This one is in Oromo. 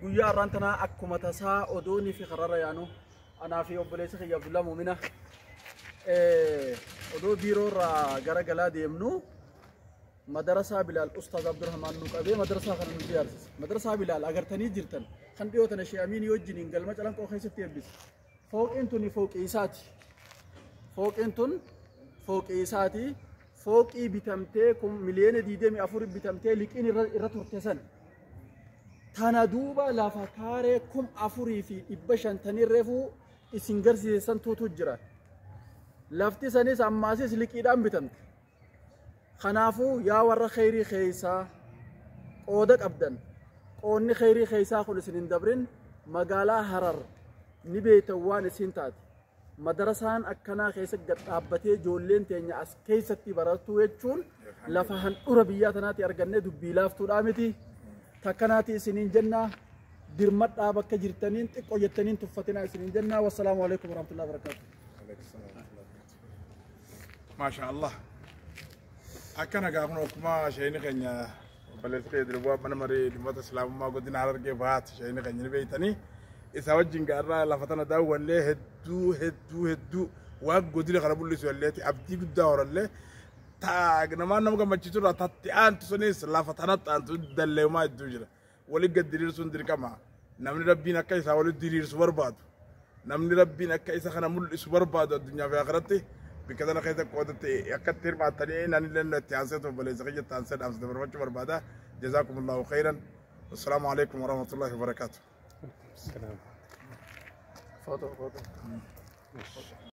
Guyyaa har'aan tanaa akkuma tasaa odoonii fi karrarra yaanu anaa fi obboleessa kiyya Abdullaa Muumina odoo biiroo irraa gara galaa deemnu madarasaa Bilaal Ustaaz Abdurrahmaan nu qabee madarasaa kana nu ijaarsise. Madarasaa Bilaal agartanii jirtan kan dhiyootan Shee Amiinii wajjiniin galma calanqoo keessatti eebbise. Fooqiin tuni fooqii isaati. Fooqiin tun fooqii isaati. Fooqii bitamtee kun miliyoona 24 bitamtee liqiin irra, irra turte san. Tana duuba lafa kaaree kum afurii fi dhibba shan tanii reefuu isin garsiisan tuutu jira. Lafti sanis ammaasis liqiidhaan bitamte. Kanaafuu yaa warra kheyrii keeysaa qooda qabdan qoonni kheyrii keeysaa kun isin hin dabrin magaalaa Harar ni beeytan waan isiin taate. Madarasaan akkanaa keessa gad dhaabbatee ijoolleen teenya as keessatti barattuu jechuun lafa handhura biyyaa tanaatti argannee dubbii laaftuudhaa miti. Takkanaati isiniin jennaa dirmadhaa bakka jirtaniin xiqqoo jettaniin tuffatinaa isiniin jennaa. Wassalaamu alaikum warahmatullahi wabarakatuh. maashaa allah akkana gaa kun akkuma sheeyni keenya obboleessi kee dirbuwaa mana marii dhimmoota islaamummaa godina harargee bahaati sheeyni keenya ni beeytanii isaa wajjin gaarraa lafa tana daawwallee hedduu hedduu hedduu waan godina kana mul'isu yalleeti abdii guddaa horallee taa namaan nama gammachiisu irraa tatti aantu sunis lafa tanatti aantu dalleemaa hedduu jira Wali gad diriirsuun dirqama. Namni Rabbiin akka isaa wali diriirsu barbaadu. Namni Rabbiin akka isa kana mul'isu barbaadu addunyaa fi akhiratti bikka sana keessa qoodatti akka itti hirmaattanii naan illee itti aansee ta'u baleessa kiyya itti aansee dhaamsa dabarfachuu barbaada. Jazaakumullaahu khayran. Assalaamu alaikum warahmatullaahi wabarakaatu. Foto, foto.